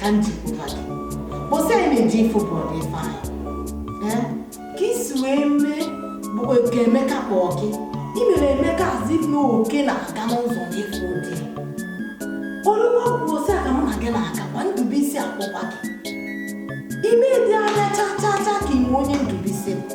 ka m jikwuba gị kpọsị anyị na-eji ifo bụrụ gị fanyị eh? ka i si wee mee bụ oke Emeka kpọọ gị ị mere Emeka azị na oke na-aga n'ụzọ n'efu ụdị orue ụbọsị aga mụ na gị na-agakwa Ndubuisi akpọkwa gị i mee dị anya cha cha cha ka ịma onye Ndubuisi bụ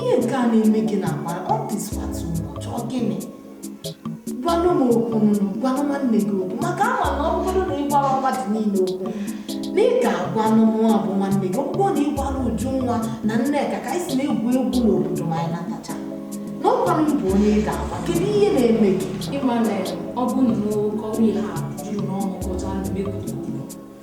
ihe nke a na-eme gị na agbara ọ dịswatụ ụbọchị ọ gịnị gwanụ m okwu nụ gwanụ nwanne gị okwu maka ama na ọ bụrụ na ị gwarọ mmadụ niile okwu na ị ga-agwa mụnwa bụ nwanne gị ọ bụrụ na ị gwarọ Ujunwa na Nneka ka anyị si na-egwu egwu n'obodo ma anyị natacha na ọkwanụ m bụ onye ị ga-agwa kedu ihe na-eme gị ị ma na ọ bụ na oke ọrụ ihe a juru n'ọnụ kọcha na-emepụta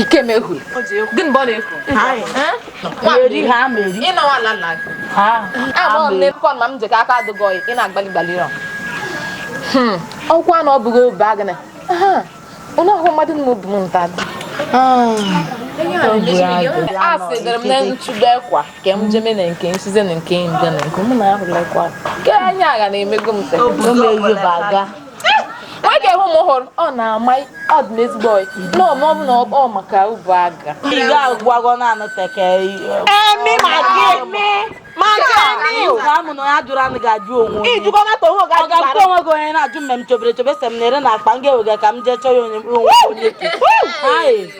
ike mehu gịnị bụ ọ na-ekwu eri ha meri ịnọwa ala nna gị agbọghọ m na-ekwu ma m jeka aka adịgọ ị na-agbali gbali rọ hmm. ọkwa na ọ bụghị obe agịnị onye ọhụrụ mmadụ na obi m nta dị a sịdịrị m na nchụgbu ekwa ka m jeme na nke nsize na nke mbịa na nke mụ na ahụla ekwa nke anya agha na-emego m nwoke ahụ m hụrụ ọ na-ama ọ dị n'ezigbo ọyị na ọma ọ bụ na ọ maka ụbụ aga ị ga-agwago na anụ teke emi ma gị emi ma gị emi o ka amụ na onye ajụrụ anụ ga-ajụ onwe onye. ijikọ na onwe ga Ọ ga-ajụ onwe gị onye na-ajụ mme m chobere chobe se m na-ere na akpa m ga-ewega ka m jee chọọ ya onye mkpụrụ onwe onye ke. Aye.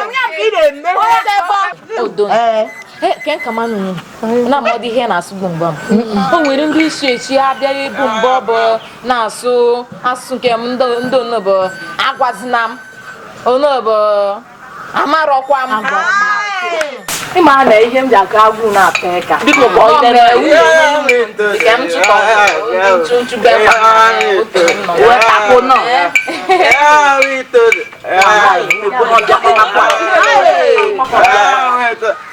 Onye ga-ebe odo Ee. ke nka manụ na amadị ihe na-asụ bụ mgba o nwere ndị isi echi abịaghị ịbụ mgbe ọ bụ na-asụ asụsụ nke m ndị onobo agwazina m onobo amarọkwa m ị ma na ihe m ji aka agwụ na-atọ ịka biko ka ọ dere ka m chịkọ nchụnchụ be wee tako nọ Yeah,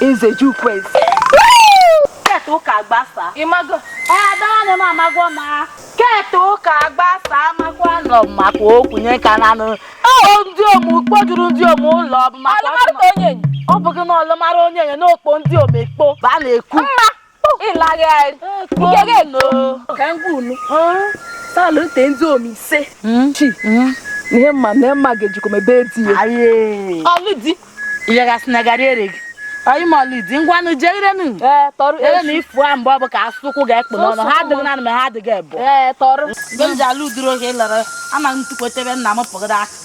Eze Jukwez. Keta ụka gbasa. Ị mago. Ada nne m amago m. Keta ụka gbasa amakwa na ọ maka okwu nye ka nanụ. Ọ ndịom kpojuru ndịom ụlọ ọ bụ maka ọtụma. Ọ bụghị na ọ lụmara onyenye na o kpo ndịom ekpo. Ba na-ekwu. Mma. ịlagharị nke gị ego ka m gwa unu sị a lụte ndịom ise hmm? chi hmm? ihe mma na mma ga-ejikọ mebe di ya ọ lụ di ịyagasị na garị ere gị anyị ma ọ lụ di ngwanụ jee irenu ere na ifu a mgbe ọ bụ ka asụkwụ ga-ekpu n'ọnụ ha adịghị nanụ ma ha adịghị ebu mgbe m ji alụ udiri oge ịlara ama m tukwetebe nna m pụgara aka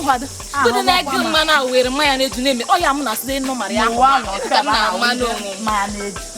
nkwado ndị na-ege mmanụ ahụ were mmanya na-eju na-eme ọ ya m na-asị ịnụ mara ya mmanụ onwe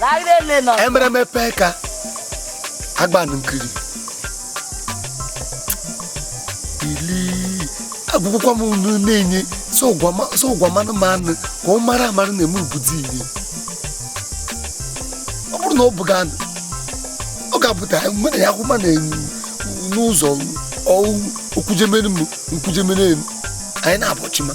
Laire le nọ. emereme pee ka agbanụ nkiri ili agwụkwọ m unu na-enye so gwa m anụmanụ ka ọ mara amara na-eme obodo ihe ọ bụrụ na ọ bụghị anụ ọ ga-apụta mgbe na ya akwụma na-enye n'ụzọ ọwụ okwujemere m nkwujemere m anyị na-abọ chi ma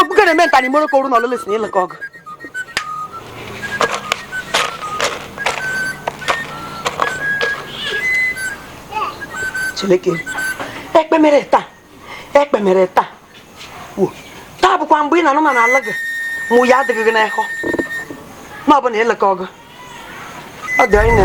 Ogbuke na-eme nta n'imoro ka oru na ọlụlụ si na ịlụkọ ọgụ. Chineke, ekpe mere taa, ekpe mere taa. Wo, taa bụkwa mgbe ị na-anụ na n'ala gị mụ ya adịghị gị n'ekọ. Ma ọ bụ na ịlụkọ ọgụ. Ọ dị anyị na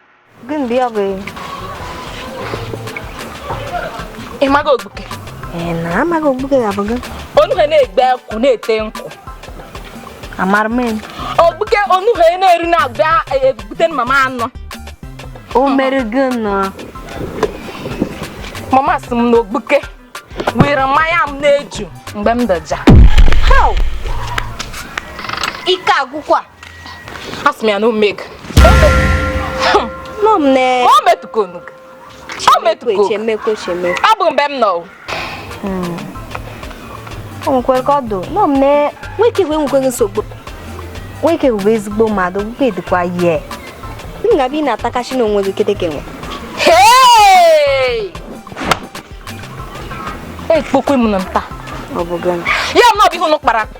Gị mgbe ya bụ ị maghị ogbuke ee na amaghị ogbuke ga-abụ gị onuhe na-egbu akwụ na-ete nkwụ amara m ya. ogbuke onuhe na-eri na-abịa ebute mama anọ o mere gịnị mama sị m na ogbuke were mmanya m na-eju mgbe m dọja ike agwụkwa Asị m ya na omeg. Nọ m na. Ọ metụkọ unu. Ọ metụkọ. Chemekwe chemekwe. Ọ bụ mgbe m nọ. Hmm. O nwekwere ka ọ dụ. Nọ m na nwoke wee nwekweghị nsogbu. Nwoke bụ ezigbo mmadụ, nwoke dịkwa yie. M ga-abịa ị na-atakachi n'onwe gị keteke nwe. Ekpokwe m na nta. Ọ bụ gịnị? Ya nọ bụ ihe unu kpara akpa.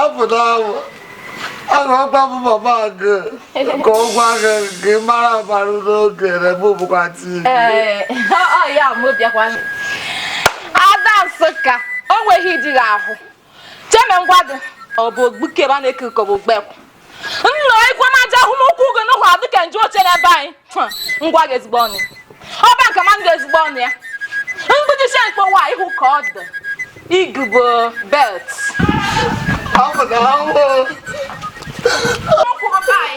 apụta ahụ agwakwa m mama gị ka ọ gwa gị ka ị mara amara n'oge na mụ bụkwa tii Ada Nsụka o nweghị di gị ahụ cheme ngwa gị ọ bụ ogbuke be a na-eke ka ọ bụ ogbekwa nna ikwe m aja ahụ m ukwu gị n'ụhụ adị ka nju oche n'ebe anyị ngwa gị ezigbo ọnụ ọba nke ma ndị ezigbo ọnụ ya mgbidisi mkpowa ihu ka ọ dị igubo belt ọkwụrụ be anyị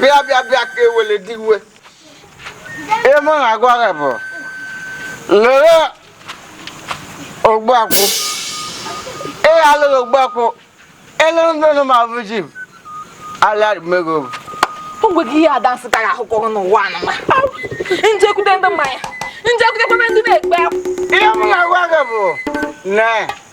bịa bịa bịa ka ewele dị iwe ihe m na-agwa gị bụ lere ogbuakwụ ị alụghị ogbuakwụ elere ndị nọ ma bụ ji alịarị mmego bụ o nwegị ihe ada nsị tara ahụ kọrọ n'ụwa anụma m jekwute ndị mmanya m jekwutekwa ndị na-ekpe ihe m na-agwa gị bụ na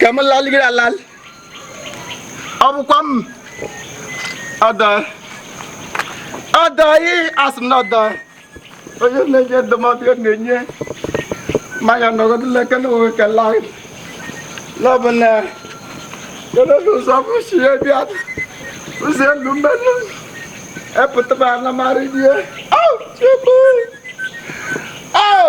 ka m lalịgịrị alalị ọ bụkwa m ada ada ị asị m na ada onye na-enye ndụmọdụ ya na-enye mmanya nọgọdụla eke na onwe ka laa lọbụ na kedu ụzọ bụ si ya bịa ụzọ elu mmenụ epụtaba anamara die au chukwu au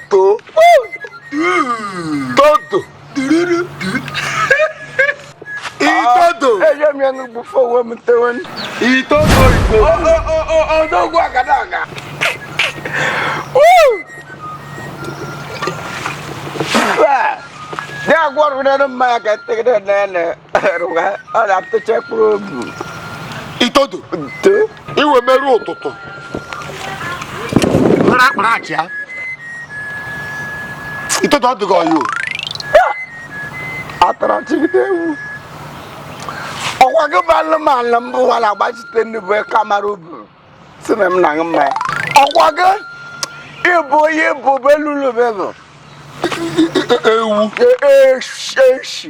itodo todo diriri itodo eje m ya n'ugbu fọ onwe m tewe itodo igbo odogwu agadaga dị agwọ ọrụ n'elu mmanya ka m tegide nene itodo iwe merụ ụtụtụ were akpara achị ya itodo ọ dịghị ọyụ atara chigide ewu ọkwa gị bụ anụmanụ mbụ wara agbachite ndị bụ kamara ubu sị na m na-aṅụ mmanya ọkwa gị ịbụ onye bụ belulubelụ ewu eshi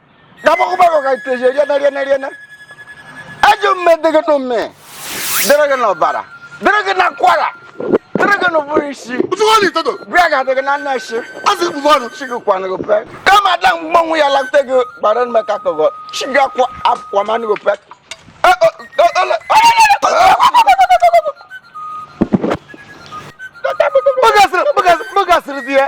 dabakwụbago ka itoji eriena riena riena ajọ mme dị gị n'ume dịrị gị n'ọbara dịrị gị n'akwara dịrị gị n'ụbụrụ ishi bịa ga adị gị na nna isi chi gị kwanụ gị pe kama ada mgbanwe ya lakte gị gbara nme ka tọgọ chi gị akwa akwa manụ gị pe Bugasırız diye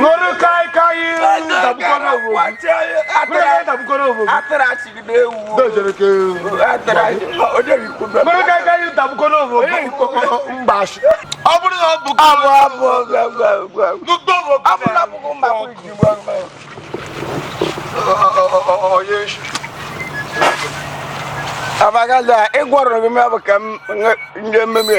nwere kai kai abagala ịgwọrọ gị mebụ ka m nye mmemme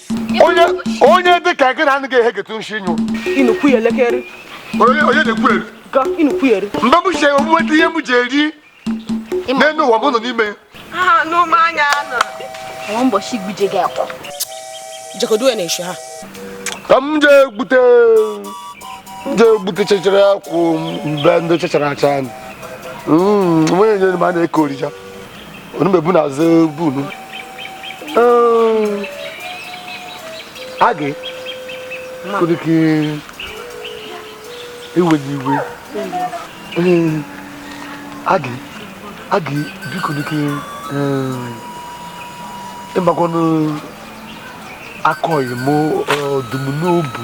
onye onye dị ka gị na anaghị ehegete nshi nyụ inukwu ya elekere onye onye na-ekwu eri ga inukwu ya eri mgbe m si nweta ihe m ji eri n'elu ụwa m nọ n'ime ya na mmanya nọ nwa ụbọchị gbuje gị akwụ jekodo ya na-eshi ha ka m jee gbute m jee gbute chechara akwụ mbe ndị chechara acha nwunye nyere m a na-eke orija onumebu na azụ bunu agị kụdịkị iwe gị iwe agị agị biko dịkị ịmakwanụ akọghị m ọdụm n'obu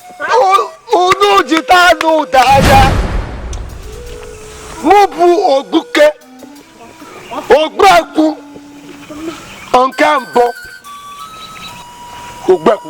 unu jide anụ ụda anya mụ bụ ogbuke ogbuekwu nke mbụ ogbuekwu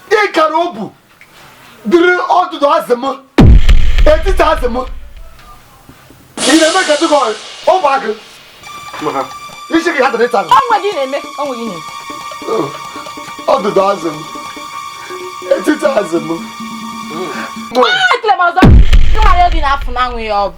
ịkara obu dịrị ọdụdụ azị m etiti azị m ị na-eme ka dịka ọ bụ agụ isi ka ya dịrị ịta ọnwa gị na-eme ọnwa gị na-eme ọdụdụ azị m etiti azị m ekele m ọzọ ịmara obi na-afụ na anwụ ya ọ bụ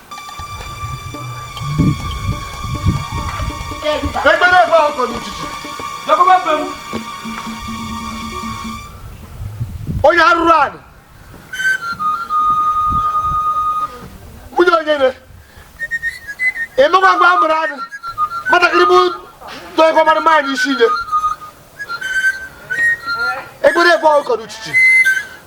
Ekpere ebe ahụ kọrọ ijiji. Lekọba mbe m. Onye arụrụ anị. Nwunye onye ne. Ịnụkwa agwa amụrụ anị. Nwatakịrị bụ tọ ego mara mma anyị isi nye. Ekpere ebe ahụ kọrọ ijiji.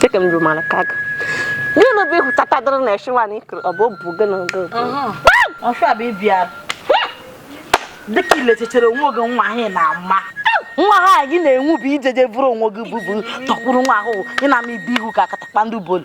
Chekem jumala kaga. Gịnị bụ ihu tata dịrị na eshi nwaanyị ikiri ọ bụ obu gịnị gị? Ọsọ bụ ịbịa dịka ilechere onwe gị nwa ahụ na-ama nwa ha gị na-enwu bụ ijeje bụrụ onwe gị bụbụ tọkwuru nwa ahụ ị na-ama ibe ihu ka akatakpa ndị bolu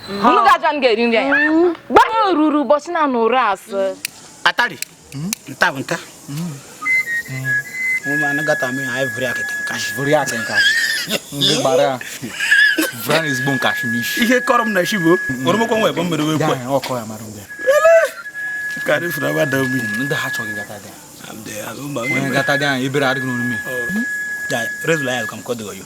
unu ga-ajụ anyị ga-eri nri anyị gwa ha ruru ụbọchị na anụ ụra asị atari nta bụ nta ụmụ anụ gata mee anyị vụrụ ya kịtị nkashi vụrụ ya kịtị nkashi ndị gbara ya vụrụ ya ezigbo nkashi n'isi ihe kọrọ m na shi bụ oromokwa nwa ebe mmiri wee kwe ọkọ ya mara mgbe karị fụrụ aba da obi ndị ha chọghị gata gị onye gata gị anyị ebere adịghị n'omume rezula ya ka m kọdịghị yo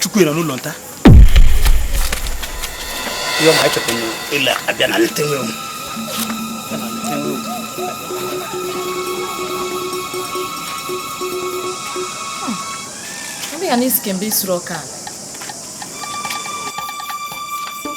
chukwu nọ n'ụlọ nta ihe ọma echekwa ịla abịa na leta nwe Ndị ya n'isi kemgbe isuru ọka a.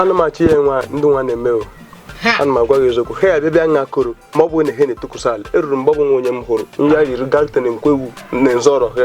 ana m achị ya nwa ndị nwa na-eme o ana m agwa gị eziokwu ha ya bịa nha koro ma ọ bụ na ha na-etukwusa ala eruru mgbe ọ bụ nwa onye m hụrụ nya yiri galten nkwewu na nzọrọ ha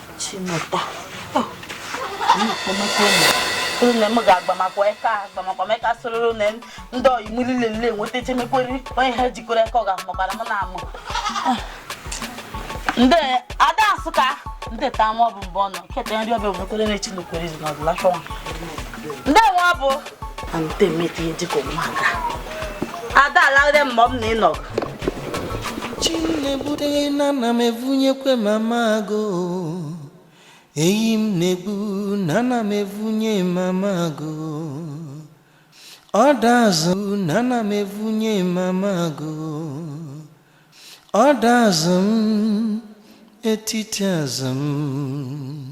nne m ga-agbamakwa eke agbamakwa m eke asụrụrụ na ndị oyi m niile nile enweta echemekweri onye ha jikọrọ aka ọ ga-amụkwara m na amụ ah. ndị ada Nsukka ndị ta ama ọ bụ mbụ ọnụ keta nri ọbịa nwekwere na echi nwekwere izu na ọbụla chọwa ndị nwa bụ ada alaghịrị m ma ọ bụ na ị nọ chinebude na ana m evunyekwe mama agụ eyi m na-egbu na ana m evunye mama agụ ọda azụ na ana m evunye mama agụ ọda azụ m etiti azụ m